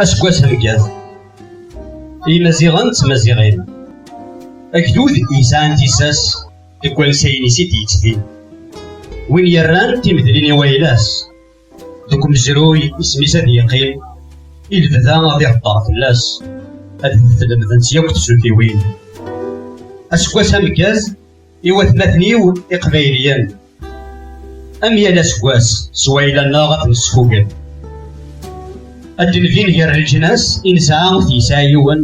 aseggas ameggaz imaziɣen d tmaziɣin agdud yesɛan tissas deg wansayen-is i d-yettbin win yerran timedlin i wayla-s deg umezruy isem-is ad yeqqim i lebda ad iheddar fell-as ad t-lemdent yakk tsultiwin aseggas ameggaz i watmaten-iw iqbayliyen am yal aseggas s wayla-nneɣ ad nesfugen ad d-nbin gar leǧnas i nesɛa ur t-yesɛi yiwen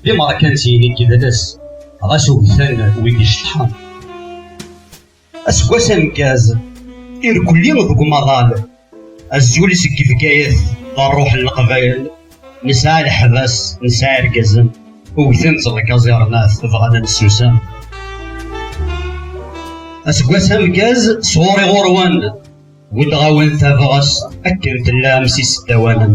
d imerkansiyen i yedles ɣas ugten wid iceṭḥen aseggas ameggaz irkelli deg umaḍal azul seg Bgayet d ṛṛuḥ n leqbayel nesɛa leḥbas nesɛa irgazen ugten-tt lkaẓirnat bɣan ad nessusam aseggas amgaz sɣuṛi ɣuṛ-wen buddeɣ-awen tabɣest akken tellam s iseddawanen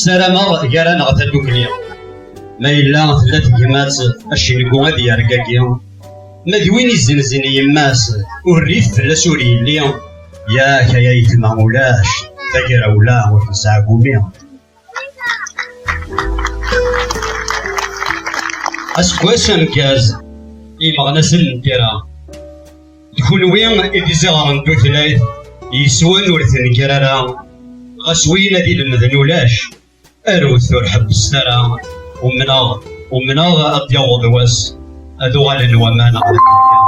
Sarameɣ gar-aneɣ tadukli. Ma yella tella tegmat, acengu ad yergagi. Ma d win izenzen yemma-s, ur rif fell-as ur yelli. Yak ay ayetma ulac, tagrawla ur nesɛagumi. Aseggas ameggaz, imeɣnasen n tira. D kunwi i d iziɣren n tutlayt yeswan ur tenkir ara, ɣas win ad ilemden ulac, arut ur ḥebbset ara, umneɣ, umneɣ ad d-yaweḍ wass ad uɣalen waman ɣer Afrika,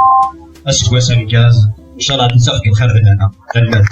aseggas ameggaz, ncalleh ad d-ittafeg lxir d lehna. Tanemmirt.